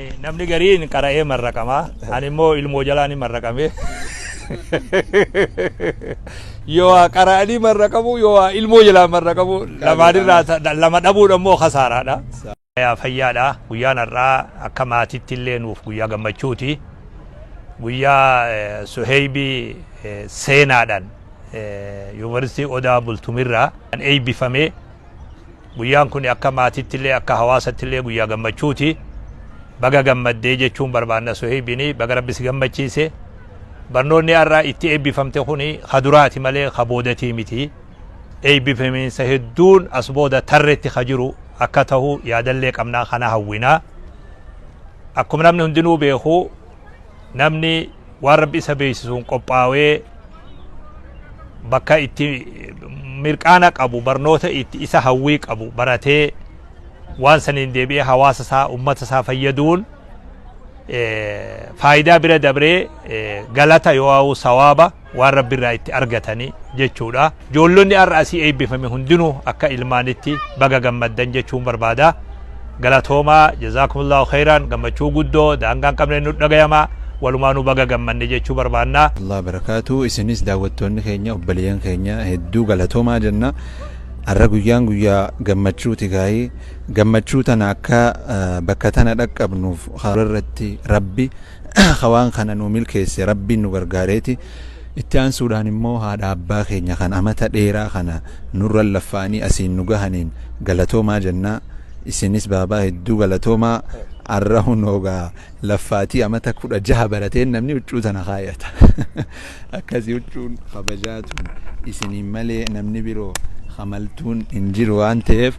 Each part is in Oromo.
Namni gariin qara'ee marraqama. Ani immoo ilmoo jalaa ni marraqame. Yoo waa qara'anii marraqamu, yoo waa ilmoo jalaa marraqamu lamaanirraa ta- lama dhabuun ammoo kasaaraadha. Yaa fayyaadha. Guyyaan har'aa akka maatiitti illee nuuf guyyaa gammachuuti. Guyyaa eh, Suheybii eh, seenaadhaan eh, Yuunivarsiitii Odaa Bultumirraa kan eebbifamee Guyyaan kuni akka maatittillee akka hawaasattillee guyyaa gammachuuti. Baga gammadde jechuun barbaanna Suheybini baga Rabbi si gammachiise. Barnoonni har'a itti eebbifamte kuni ka duraati malee ka boodatii miti. Eebbifamiinsa hedduun as booda tarretti ka jiru akka tahu yaadallee qabna kana hawwina. Akkuma namni hundinuu beeku namni waan rabbi isa beeksisuun qophaawee bakka itti mirqaana qabu barnoota itti isa hawwii qabu baratee waan saniin deebi'ee hawaasa isaa ummata isaa fayyaduun faayidaa bira dabree galata yoo sawaaba waan Rabbi irraa itti argatani jechuudha. Ijoollonni har'a asii eebbifame hundinuu akka ilmaanitti baga gammaddan jechuun barbaada. Galatoomaa jazaakumullahu khayraan gammachuu guddoo daangaa hin qabne nu dhagayama walumaanuu baga gammanne jechuu barbaanna. Allah barakaatu isinis daawwattoonni keenya obboleeyyan keenya hedduu galatoomaa jenna har'a guyyaan guyyaa gammachuuti gaa'ii gammachuu tana akka bakka tana dhaqqabnuuf karaa irratti rabbi Ka waan kana nuu milkeesse Rabbiin nu gargaareeti. Itti aansuudhaan immoo haadha abbaa keenya kan amata dheeraa kana nurra laffa'anii asiin nu gahaniin galatoomaa jenna. Isinis baabaa hedduu galatoomaa. Arra hunoo gaa laffaatii amata 16 barateen namni huccuu tana kaayata. Akkasi huccuun kabajaa tun isiniin malee namni biroo ka maltuun hin jiru waan ta'eef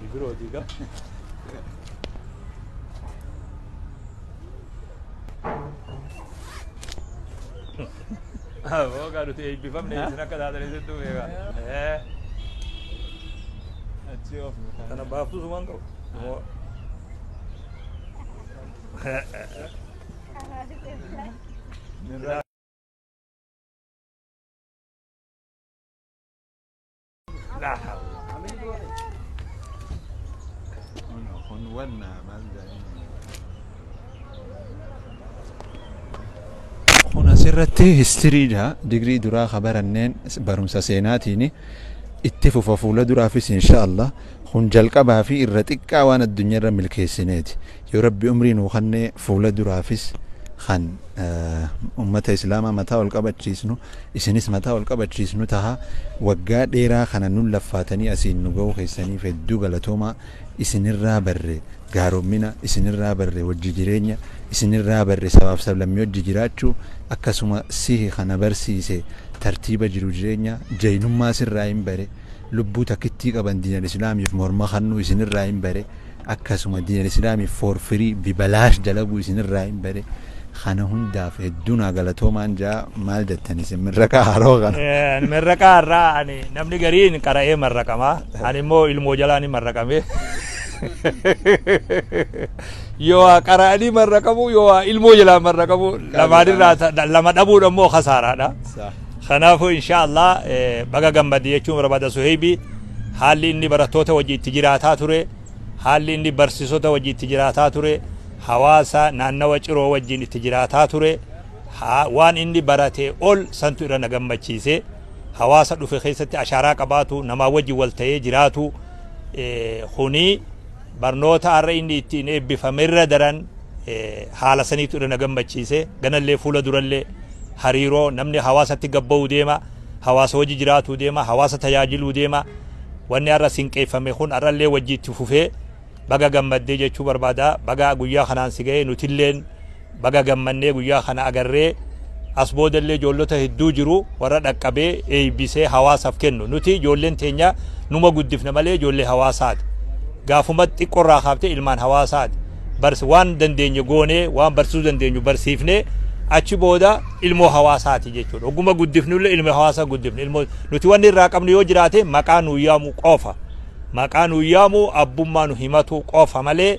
Bibirooti gaa. Aboo gaa nuti eebbifamne isin akka taatanii sittuu beekaa. Eh, Achi of Kana baaftuu sumaan qabu. Moo- kun asirratti histiriidha digrii duraa ka baranneen barumsa seenaatiin itti fufa fuula duraafis insha Allah kun jalqabaa fi irra xiqqaa waan addunyaa irra milkeessineeti Yoo rabbi umrii nuu kanne fuula duraafis kan ummata islaamaa mataa ol qabachiisnu isinis mataa ol qabachiisnu taha waggaa dheeraa kana nun laffaatanii asiin nu gahuu keessaniif hedduu galatoomaa isinirraa barre gaarommina isinirraa barre wajji jireenya isinirraa barre sabaaf sablammii wajji jiraachuu akkasuma sihi kana barsiise tartiiba jiru jireenya jaynummaa sirraayin bare lubbuu takittii qaban diinal islaamiif morma kannuu isinirraayin bare Akkasuma diin alislaami for free bibalaash dalaguu isin irraa hin bare kana hundaaf hedduu naa galatoomaan jaa maal jettan isin mirraqaa haroo kana. Eh, Marraqaa irraa ani namni gariin qara'ee marraqama. Ani immoo ilmoo jalaa ni marraqame. Yoo waa qara'anii marraqamu yoo waa ilmoo jalaa marraqamu lamaan irraa ta- lama dhabuun ammoo kasaaraadha. Saah. Kanaafuu inshaa Allah baga gammadde jechuun barbaada Suheybi haalli inni barattoota wajji itti jiraataa ture, haalli inni barsiisota wajji itti jiraataa ture, hawaasa naannawa ciroo wajjin itti jiraataa ture, waan inni baratee ol santu irra na gammachiise. Hawaasa dhufe keessatti ashaaraa qabaatu, namaa wajji wal ta'ee jiraatu kuni barnoota har'a inni ittiin eebbifame irra daran haala saniitu irra na gammachiise ganallee fuula durallee hariiroo namni hawaasatti gabba'uu deema hawaasa hojii jiraatuu deema hawaasa tajaajiluu deema wanni har'a sinqeeffame kun har'allee wajjiitti fufee baga gammaddee jechuu barbaada baga guyyaa kanaan si ga'ee nutilleen Baga gammannee guyyaa kana agarree as booda illee ijoollota hedduu jiru warra dhaqqabee eeybisee hawaasaaf kennu nuti ijoolleen teenya numa guddifna malee ijoollee hawaasaati gaafuma xiqqorraa kaaftee ilmaan hawaasaati bars waan dandeenye goonee waan barsiisuu dandeenyu barsiifnee achi booda ilmoo hawaasaati jechuudha oguma guddifnu illee ilmoo hawaasaa guddifne ilmoo nuti wanni irraa qabnu yoo jiraate maqaa nuu yaamu qofa maqaa nuu yaamu abbummaa nu himatu qofa malee